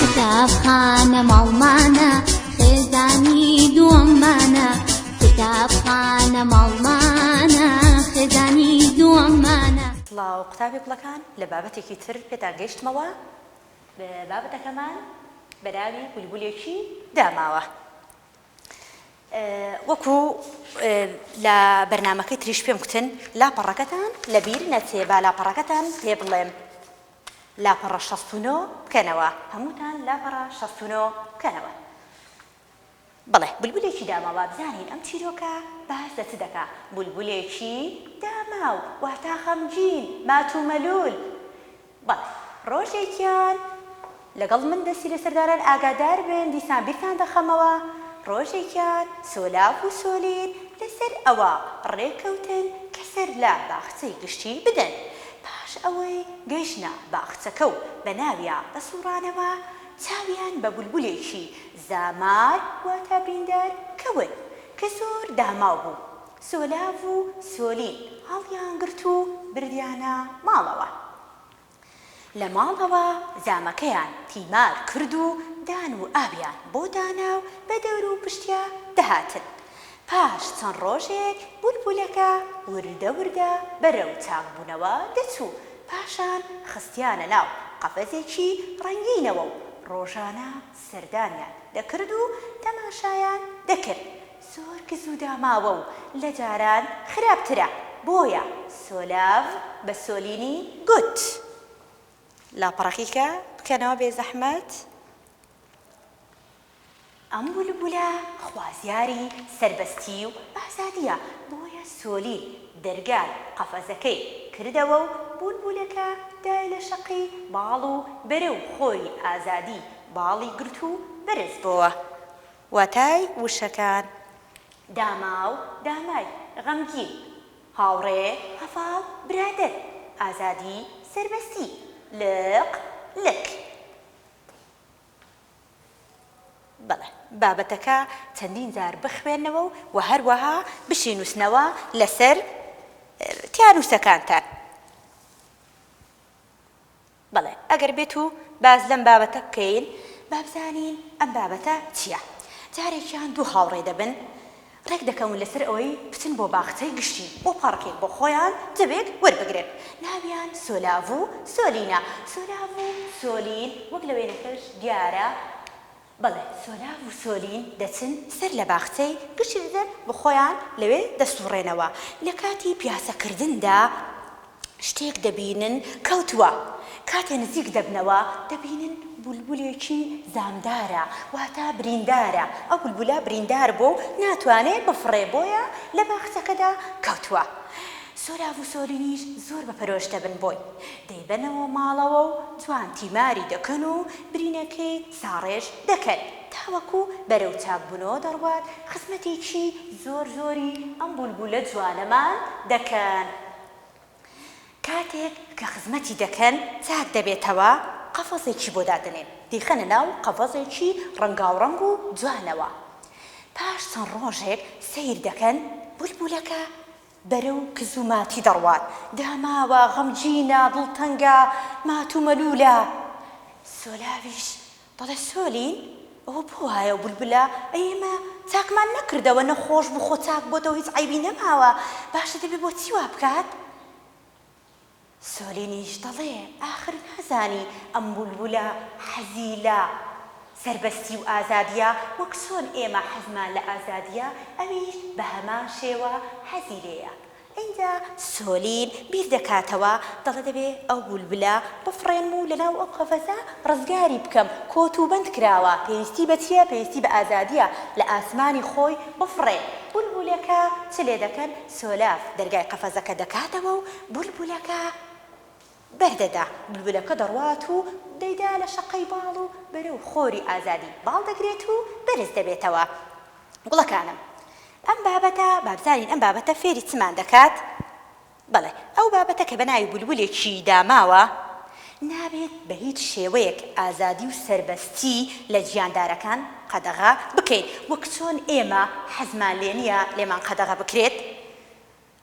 کتابخانە ماڵمانە خێزانی دووەممانە کتابخانە ماڵمانە خێزانی دووەممانە سڵاو قوتابی گوڵەکان لە بابەتێکی تر پێتان گەیشتمەوە بابەتەکەمان بەراوی بولبولێکی داماوە وەکو لە بەرنمەکەی تریش پێم کوتن لاپەڕەکەتان لەبیر نەچێ با لاپەڕەکەتان پێ بڵێم لاپەڕە شەست و نۆ بکەنەوە. هەمووتان لاپەڕە شەست و نۆ بکەنەوە. بەڵێ، بولبولێکی داماو با بزانین ئەم چیرۆکە باس لە چ دەکا. بولبولێکی داماو واتا خەمگین، مات و مەلوول. بەڵێ، ڕۆژێکیان. لەگەڵ من دەستی لەسەر داران ئاگاداربن دیسان بیرتان دەخەمەوە ڕۆژێکیان سۆلاڤ و سۆلین لەسەر ئەوە ڕێککەوتن کە سەر لە باخچەی گشتی بدەن پاش ئەوەی گەیشتنە باخچەکە و بەناویا دەسوڕانەوە چاویان بە بولبولێکی زامار واتە بریندار کەوت کە زۆر داماو بوو سۆلاڤ و سۆلین هەڵیانگرت و بردیانە ماڵەوە لە ماڵەوە زامەکەیان تیمار کرد و دان و ئاویان بۆ دانا و بە دەورو پشتیا دەهاتن. پاش چەند ڕۆژێک بولبولەکە وردە وردە بەرەو تاقبوونەوە دەچوو، پاشان خستیانە ناو قەفەزێکی ڕەنگینەوە و ڕۆژانە سەردانیان دەکرد و تەماشایان دەکرد، زۆر کز و داماوە و لە جاران خراپترە بۆیە سۆلاڤ بە سۆلینی گوت. لاپەڕەکیکە بکەنەوە بێزەحمەت. ئەم بولبولە خوازیاری سەربەستی و ئازادیە بۆیە سۆلین دەرگای قەفەزەکەی کردەوە و بولبولەکە دای لە شەقی باڵ و بەرەو خۆری ئازادی باڵی گرت و بەرز بۆوە واتای وشەکان، داماو، دامای، غەمگین، هاوڕێ، هەڤاڵ، برادەر، ئازادی، سەربەستی، لق، لک. بەڵێ، بابەتەکە چەندین جار بخوێنەوە و هەروەها بشینووسنەوە لەسەر تیانووسەکانتان. بەڵێ ئەگەر بێت و باس لەم بابەتە بکەین با بزانین ئەم بابەتە چیە جارێک یان دوو هاوڕێ دەبن ڕێک دەکەون لەسەر ئەوەی بچن بۆ باخچەی گشتی بۆ پاڕکێک بۆ خۆیان دەبێت وەربگرن ناویان سۆلاڤ و سۆلینە سۆلاڤ و سۆلین وەک لە وێنەکەش دیارە بەڵێ سۆراڤ و سۆلین دەچن سەر لە باخچەی گشتی دەدەن و خۆیان لەوێ دەسوڕێنەوە، لە کاتی پیاسەکردندا شتێک دەبینن کەوتووە، کاتێ نزیک دەبنەوە دەبینن بولبولێکی زامدارە واتە بریندارە، ئەو بولبولە بریندار بووە و ناتوانێ بفڕێ بۆیە لە باخچەکەدا کەوتووە، سۆراڤ و سۆلینیش زۆر بە پەرۆش دەبن بۆی، دەیبەنەوە ماڵەوە و جوان تیماری دەکەن و برینەکەی. ساڕێژ دەکەن تاوەکو بەرەو چاک بونەوە دەڕوات خزمەتێکی زۆر زۆری ئەم بولبولە جوانەمان دەکەن کاتێک کە خزمەتی دەکەن چاک دەبێتەوە قەفەزێکی بۆ دادەنێن دەیخەنە ناو قەفەزێکی ڕەنگاوڕەنگ و جوانەوە پاش چەند ڕۆژێک سەیر دەکەن بولبولەکە بەرەو کز و ماتی دەڕوات. داماوە، غەمگینە، دڵتەنگە، مات و مەلوولە. سۆلاویش دەڵێ، سۆلین، ئەوە بۆ وایە و بولبولە؟ ئەی ئێمە چاکمان نەکردەوە، نەخۆش بوو، خۆ چاک بۆتەوە، هیچ عەیبی نەماوە، باشە دەبێ بۆچی وا بکات؟ سۆلینیش دەڵێ ئاخر نازانی ئەم بولبولە حەزی لە سەربەستی و ئازادیە وەک چۆن ئێمە حەزمان لە ئازادیە ئەویش بە هەمان شێوە حەزی لێیە ئینجا سۆلین بیر دەکاتەوە دەڵێ دەبێ ئەو بولبلە بفڕێنم و لەناو ئەو قەفەزە ڕزگاری بکەم کۆت و بەند کراوە پێویستی بە چیە پێویستی بە ئازادیە لە ئاسمانی خۆی بفڕێ بولبولەکە چ لێ دەکەن سۆلاف دەرگای قەفەزەکە دەکاتەوە و بولبولەکە بەر دەدا. بولبولەکە دەڕوات و دەیدا لە شەقەی باڵ و بەرەو خۆری ئازادی باڵ دەگرێت و بەرز دەبێتەوە. گوڵەکانم. ئەم بابەتە، با بزانین ئەم بابەتە فێری چمان دەکات؟ بەڵێ، ئەو بابەتە کە بە ناوی بولبولێکی دا ماوە، نابێت بە هیچ شێوەیەک ئازادی و سەربەستی لە گیاندارەکان قەدەغە بکەین، وەک چۆن ئێمە حەزمان لێ نییە لێمان قەدەغە بکرێت.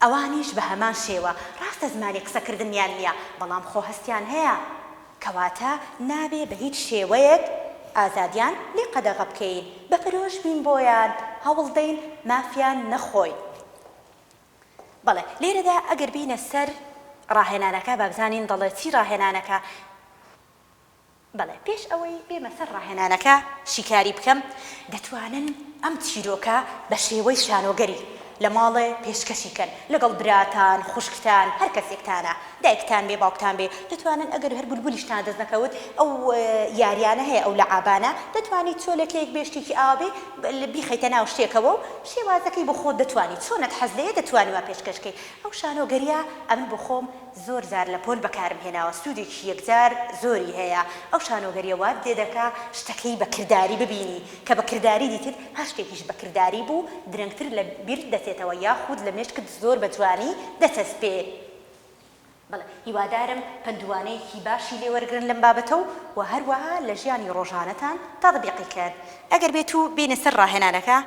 ئەوانیش بە هەمان شێوە، ڕاستە زمانی قسەکردنیان نییە، بەڵام خۆ هەستیان هەیە. کەواتە نابێ بە هیچ شێوەیەک ئازادیان لێ قەدەغە بکەین، بە پەرۆش بین بۆیان، هەوڵ دەین مافیان نەخۆین. بەڵێ، لێرەدا ئەگەر بێینە سەر ڕاهێنانەکە، با بزانین دەڵێ چی ڕاهێنانەکە؟ بەڵێ پێش ئەوەی بێمە سەر ڕاهێنانەکە شیکاری بکەم، دەتوانن ئەم چیرۆکە بە شێوەی شانۆگەری لە ماڵێ پێشکەشی کەن لەگەڵ براتان، خوشکتان، هەر کەسێکتانا، دایکتان بێ، باوکتان بێ، دەتوانن ئەگەر هەر بولبولیشتان دەست نەکەوت ئەو یاریانە هەیە ئەو لەعابانە دەتوانی چۆلەکەیەک بێ شتێکی ئاوا بێ بیخەیتە ناو شتێکەوە و شێوازەکەی بۆ خۆت دەتوانی چۆنت حەز لێیە دەتوانی وا پێشکەش کەی ئەو شانۆگەریە ئەمن بۆ خۆم زۆر جار لە پۆل بەکارم هێناوە سودێکی یەکجار زۆری هەیە ئەو شانۆگەریە وات لێدەکا شتەکەی بە کرداری ببینی کە بە کرداری دیتت هەر شتێکیش بە کرداری بوو درەنگتر لە بیرت دەچێتەوە یاخود لە مێشکت زۆر بە جوانی دەچەسپێ بەڵێ هیوادارم پەندوانەیەکی باشی لێ وەرگرن لەم بابەتە و وە هەروەها لە ژیانی ڕۆژانەتان تاتبیقی کەن ئەگەر بێتوو بێینە سەر ڕاهێنانەکە.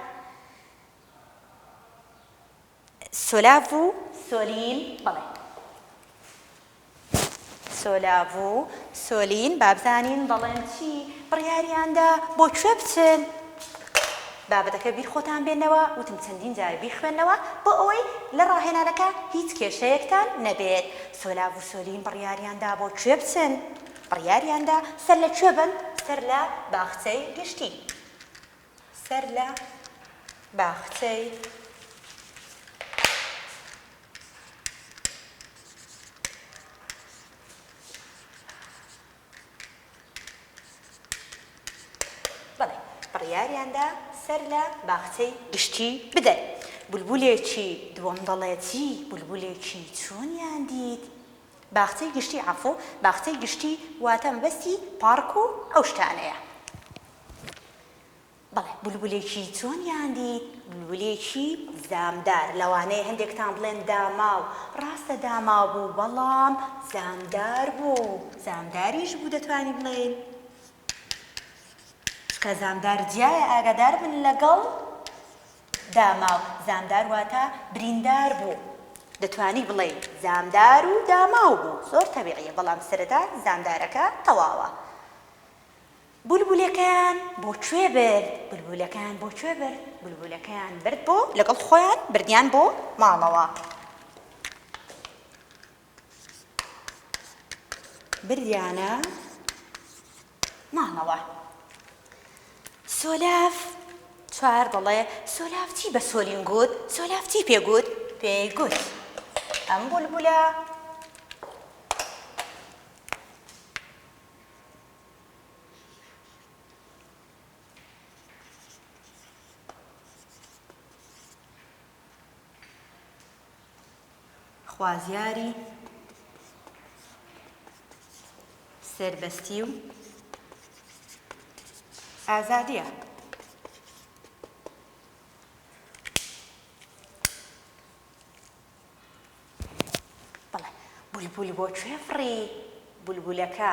سۆلاڤ و سۆلین بەڵێ سۆلاڤ و سۆلین با بزانین دەڵێن چی بڕیاریاندا بۆ کوێ بچن بابەتەکە بیر خۆتان بێنەوە وتم چەندین جار بیخوێنەوە بۆ ئەوەی لە ڕاهێنانەکە هیچ کێشەیەکتان نەبێت سۆلاڤ و سۆلین بڕیاریاندا بۆ کوێ بچن بڕیاریاندا سەر لە کوێ بن سەر لە باخچەی گشتی سەر لە باخچەی بەڵێ بڕیاریاندا سەر لە باخچەی گشتی بدەن. بولبولێکی دووەم دەڵێتجی بولبولێکی چۆنیان دیت؟ باخچەی گشتی عەفو باخچەی گشتی واتە مەبەستی پاڕک و ئەو شتانەیە. بەڵێ بولبولێکی چۆنیان دیت؟ بولبولێکی زامدار، لەوانەیە هەندێکتان بڵێن داماو، ڕاستە داماو بوو بەڵام زامدار بوو، زامداریش بوو دەتوانین بڵێین چونکە زامدار جیایە ئاگاداربن لەگەڵ داماو، زامدار واتە بریندار بوو، دەتوانی بڵێی زامدار و داماو بوو زۆر تەبیعیە بەڵام سەرەتا زامدارەکە تەواوە. بولبولەکەیان بۆ کوێ برد؟ بولبولەکەیان بۆ کوێ برد؟ بولبولەکەیان برد بۆ لەگەڵ خۆیان بردیان بۆ ماڵەوە. بردیانە ماڵەوە. سۆلاف چوار دەڵێ سۆلاف چی بە سۆلین گوت؟ سۆلاف چی پێ گوت؟ پێی گوت ئەم بولبولە خوازیاری سەربەستی و ئازادیە. بەڵێ. بولبول بۆ کوێ فڕی؟ بولبولەکە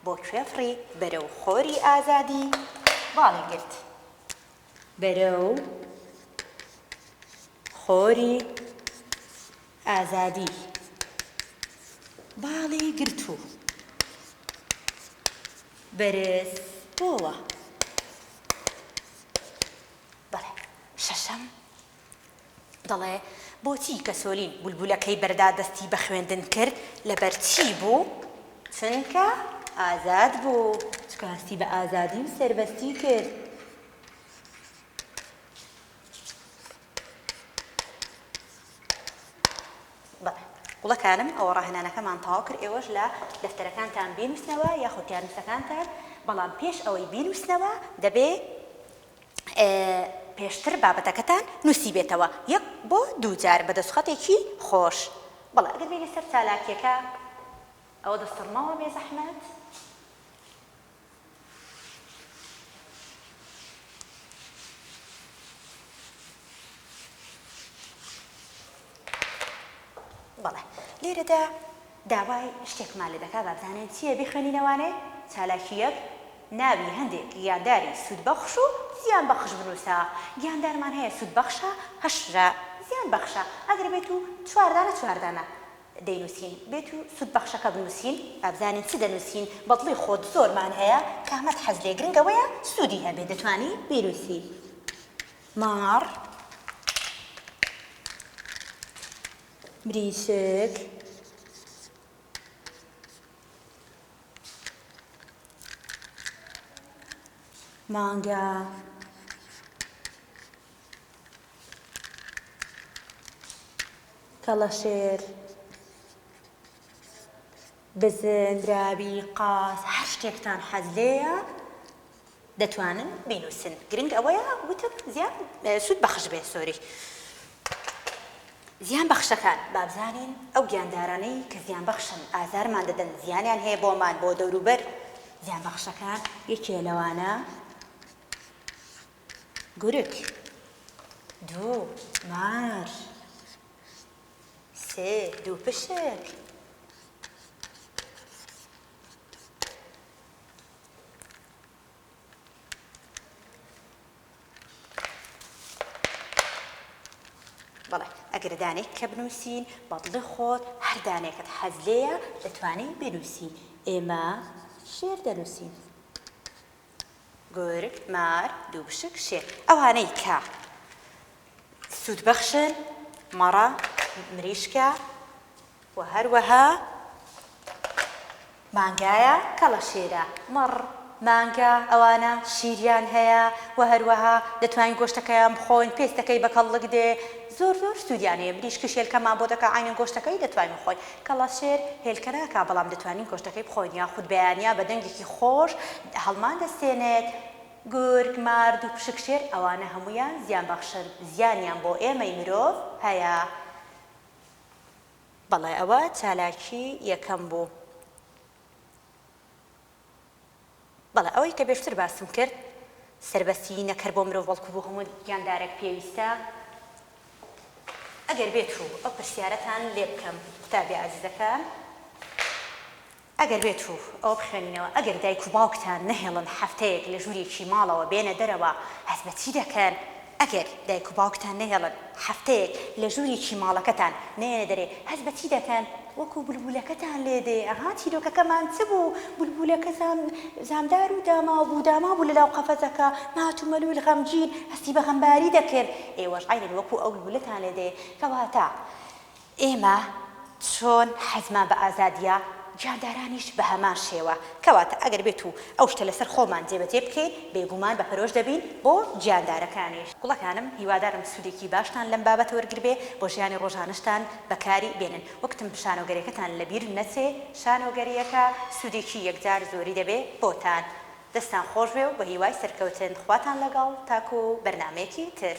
بۆ کوێ فڕی؟ بەرەو خۆری ئازادی باڵی گرت. بەرەو خۆری ئازادی باڵی گرت و بەرز بۆوە. بەڵێ. شەشەم. دەڵێ، بۆچی کەسۆلین بولبولەکەی بەردا دەستی بە خوێندن کرد، لەبەرچی بوو؟ چونکە ئازاد بوو. چونکە هەستی بە ئازادی و سەربەستی کرد. بەڵێ. گوڵەکانم ئەوە ڕاهێنانەکەمان تەواو کرد، ئێوەش لە دەفتەرەکانتان بینووسنەوە یاخود یارمتەکانتان، بەڵام پێش ئەوەی بینووسنەوە دەبێ. پێشتر بابەتەکەتان نوسیبێتەوە یەک بۆ دوو جار بە دەسوخەتێکی خۆش. بەڵێ ئەگەر بێینە سەر چالاکیەکە ئەوە دەسڕمەوە بێزەحمەت. بەڵێ لێرەدا داوای شتێکمان لێ دەکات با بزانین چییە بیخوێنینەوانێ، چالاکی یەک، ناوی هەندێک گیانداری سوودبەخش و زیانبەخش بنووسە، گیاندارمان هەیە سوودبەخشە، هەشرە، زیانبەخشە، ئەگەر بێت و چوار دانە چوار دانە دەینووسین، بێت و سوودبەخشەکە بنووسین، با بزانین چ دەنووسین، بە دڵی خۆت زۆرمان هەیە، کامەت حەز لێ گرنگە وەیە سوودی هەبێ، دەتوانی بینووسی. مار بریسک مانگا کەڵەشێر بزن، دراوی، قاز، هەر شتێکتان حەز لێیە دەتوانن بینووسن. گرنگ ئەوەیە وتم زیان سوود بەخش بێت سۆری. زیان بەخشەکان، با بزانین ئەو گیاندارانەی کە زیان بەخشن ئازارمان دەدەن زیانیان هەیە بۆمان بۆ دەوروبەر زیان بەخشەکان یەکێ لەوانە گورگ، دوو، مار، سێ دووپشک. بەڵێ ئەگەر دانێک کە بنووسین بە دڵی خۆت هەر دانێکت حەز لێیە دەتوانین بنووسین ئێمە شێر دەنووسین. گورگ، مار، دووپشک، شێر. ئەوانەی کە سوودبەخشن، مەڕە، مریشکە و هەروەها مانگایە، کەڵەشێرە، مەڕ، مانگا، ئەوانە شیریان هەیە و هەروەها دەتوانین گۆشتەکەیان بخۆین، پێستەکەی بە کەڵک دێ، زۆر زۆر سوودیان هەیە، مریشکیش هێلکەمان بۆ دەکا عەینەن گۆشتەکەی دەتوانین بخۆین. کەڵەشێر هێلکە ناکا بەڵام دەتوانین گۆشتەکەی بخۆین یاخود بەیانیا بە دەنگێکی خۆش هەڵمان دەستێنێت. گورگ، مار، دووپشک، شێر ئەوانە هەموویان زیان بەخشن، زیانیان بۆ ئێمەی مرۆڤ هەیە. بەڵێ ئەوە چالاکی یەکەم بوو. بەڵێ ئەوەی کە بێشتر باسم کرد سەربەستیی نەک هەر بۆ مرۆڤ بەڵکو بۆ هەموو گیاندارێک پێویستە. ئەگەر بێت و ئەو پرسیارەتان لێ بکەم قوتابیە ئازیزەکان ئەگەر بێت و ئەوە بخوێنینەوە ئەگەر دایک و باوکتان نەهێڵن هەفتەیەک لە ژوورێکی ماڵەوە بێنە دەرەوە هەست بە چی دەکەن؟ ئەگەر دایک و باوکتان نەهێڵن هەفتەیەک لە ژوورێکی ماڵەکەتان نەیەنە دەرێ هەست بە چی دەکەن؟ وەکو بولبولەکەتان لێ دێ، ئەها چیرۆکەکەمان چ بوو؟ بولبولەکە زام زامدار و داماو بوو، داماو بوو لەناو قەفەزەکە، مات و مەلول غەمگین هەستی بە غەمباری دەکرد، ئێوەش عەینەن وەکو ئەو بولبولەتان لێ دێ، کەواتە. ئێمە چۆن حەزمان بە ئازادییە، گیاندارانیش بە هەمان شێوە. کەواتە ئەگەر بێت و ئەو شتە لەسەر خۆمان جێبەجێ بکەین، بێگومان بە پەرۆش دەبین بۆ گیاندارەکانیش. گوڵەکانم، هیوادارم سوودێکی باشتان لەم بابەتە وەرگربێ، بۆ ژیانی ڕۆژانەشتان بەکاری بێنن. وەکوتم شانۆگەریەکەتان لەبیر نەچێ، شانۆگەرییەکە سوودێکی یەکجار زۆری دەبێ بۆتان. دەستتان خۆشبێ و بەهیوای سەرکەوتن. خواتان لەگەڵ، تاکوو بەرنامەیەکی تر.